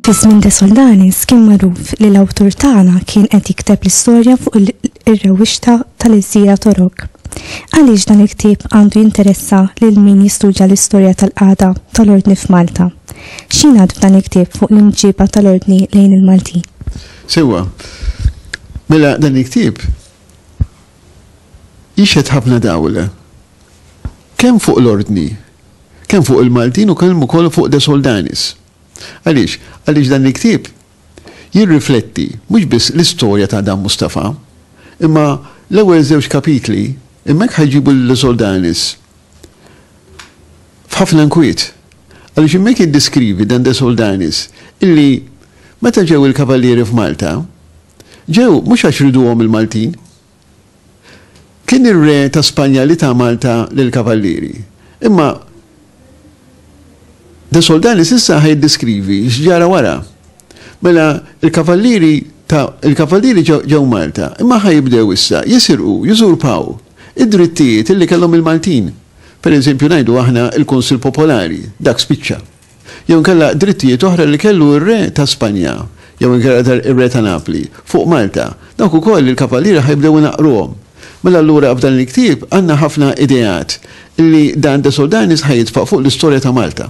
Fis-żmien de Soldanis kien magħruf li l-awtur tagħna kien qed jikteb l-istorja fuq ir-rewwixta tal-Iżjira Torok. Għaliex dan il-ktieb għandu jinteressa lil min jistudja l-istorja tal-qagħda tal-ordni f'Malta? X'jingħad f'dan il-ktieb fuq l-imġiba tal-Ordni lejn il-Maltin? Sewwa. Mela dan il-ktieb jixhed ħafna dawl kemm fuq l-Ordni, kemm fuq il-Maltin u kemm ukoll fuq De Soldanis. Għaliex? Għaliex dan il-ktieb jirrifletti mhux biss l-istorja ta' Adam Mustafa, imma l-ewwel żewġ kapitli hemmhekk ħajġibu lil De Soldanis f'ħafna nkwiet Għaliex hemmhekk jiddeskrivi Dan de Soldanis illi meta ġew il-Kavallieri f'Malta, ġew mhux għax riduhom il-Maltin. Kien ir-Re ta' Spanja li ta Malta lill-Kavallieri. Imma de Soldanis issa ħa jiddeskrivi x'ġara wara. Mela l-Kavallieri ta' il-Kavallieri ġew Malta, imma ħa jibdew issa jisirqu, jużurpaw id-drittijiet illi kellhom il-Maltin. Pereżempju ngħidu aħna l-Kunsill Popolari, dak spiċċa. Jew inkella drittijiet oħra li kellu r-Re ta' Spanja, jew inkella r-Re ta' Napli, fuq Malta, dawk ukoll il-Kavallieri ħa jibdew inaqqruhom. Mela allura f'dan il-ktieb għandna ħafna ideat li Dan de Soldanis ħa jitfa' fuq l-istorja ta' Malta.